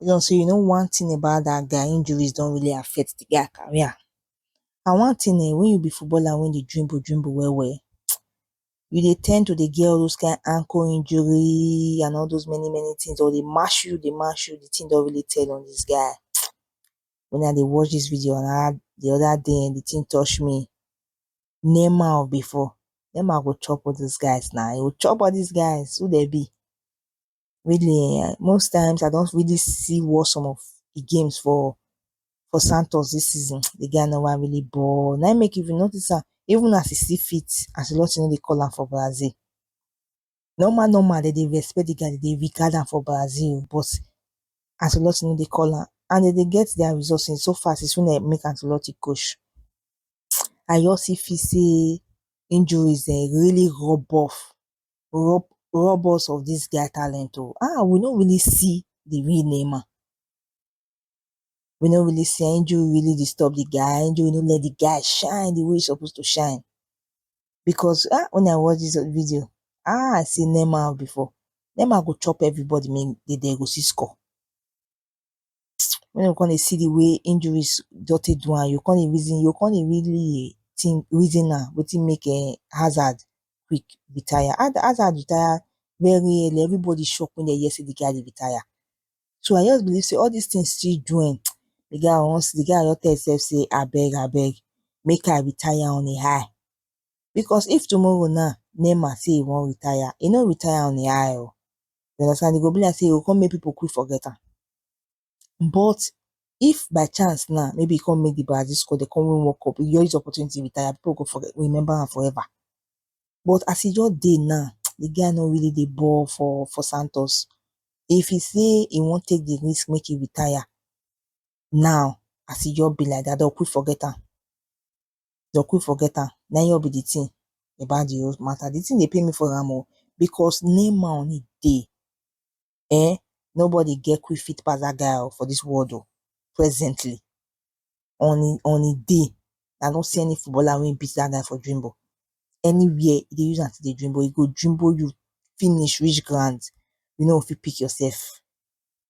Make sure sey you know one thing about dat guy, injuries don really affect de guy career and one thing um when you be footballer wey dey dribble dribble well well you dey ten d to dey get all those kind ankle injury and all those many many things or dey match you dey match you de thing don really tell on dis guy um me I dey watch dis video um de other day um de thing touch me Neymar of before, Neymar go chop all those guys na, he go chop all these guys who dem be? really um most times I don really see what some of the games for for Santos this season the guy no wan really ball na im make if you notice am even as e still fit Ancelotti no dey call am for Brazil normal normal dem dey respect the guy dem dey regard am for Brazil o but Ancelotti no dey call am and dem dey get their results in so far since wey dem make Ancelotti coach I just still feel sey injuries um really rub off rob rob us of this guy talent oh ah we no really see the real Neymar we no really see am injury really disturb the guy injury no let the guy shine the way he suppose to shine because ah when I watch this video ah I see Neymar before Neymar go chop everybody make they dey go see score Wen you go come dey see di way injuries just take do am, you go come dey reason, you go come dey really think, reason am wetin make um Hazard quick retire. Hazard retire very early, everybody shock wen dem hear sey di guy dey retire. So I just believe sey all dis tin still do um di guy once, di guy just tell himself sey abeg abeg make I retire on a high, because if tomorrow na Neymar sey e wan retire, e no retire on a high oh. you understand e go be like sey e go come make people quick forget am but if by chance now maybe e come make the Brazil score they come win World Cup you just use opportunity retire people go forget remember am forever but as e just dey now the guy no really dey ball for for Santos if he say he wan take the risk make he retire now as e just be like that they go quick forget am dey go quick forget am na him just be the thing about the whole matter, the thing dey pain me for am o because Neymar on im dey um nobody get quick feet pass that guy o for this world o presently on im on im day I no see any footballer wey beat that guy for dribble anywhere e dey use am take dey dribble e go dribble you finish reach ground you no go fit pick yourself.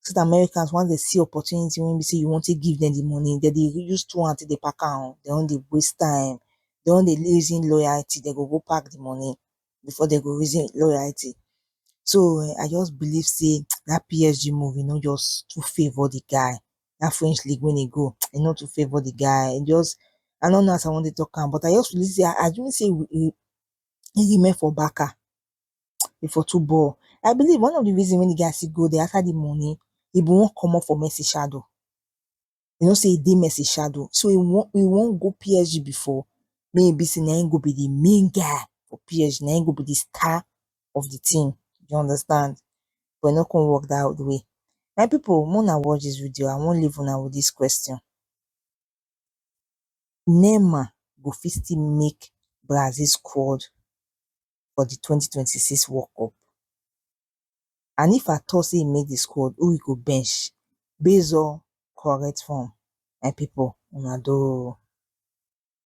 so dat Americans once dem see opportunity wey be sey you wan take give dem de money dem dey use two hand take dey pack am o, dem wan dey waste time, dem wan dey reason loyalty, dem go go pack de money before dem go reason loyalty. So um I just believe sey dat PSG move e no just too favour de guy, dat French league wey e go e no too favour de guy, e just I no know as I wan take talk am but I just feel sey assuming sey e remain for Barca e for too ball I believe one of the reason wey the guy still go there after the money he been wan comot for Messi shadow he know say he dey Messi shadow so he wan he wan go PSG before make e be say na him go be the main guy for PSG na him go be the star of the team you understand but e no come work that way my people make una watch this video I wan leave una with this question Neymar go fit still make Brazil squad for di twenty twenty six world cup and if at all sey e make di squad who e go bench base on correct form my pipu una do oh.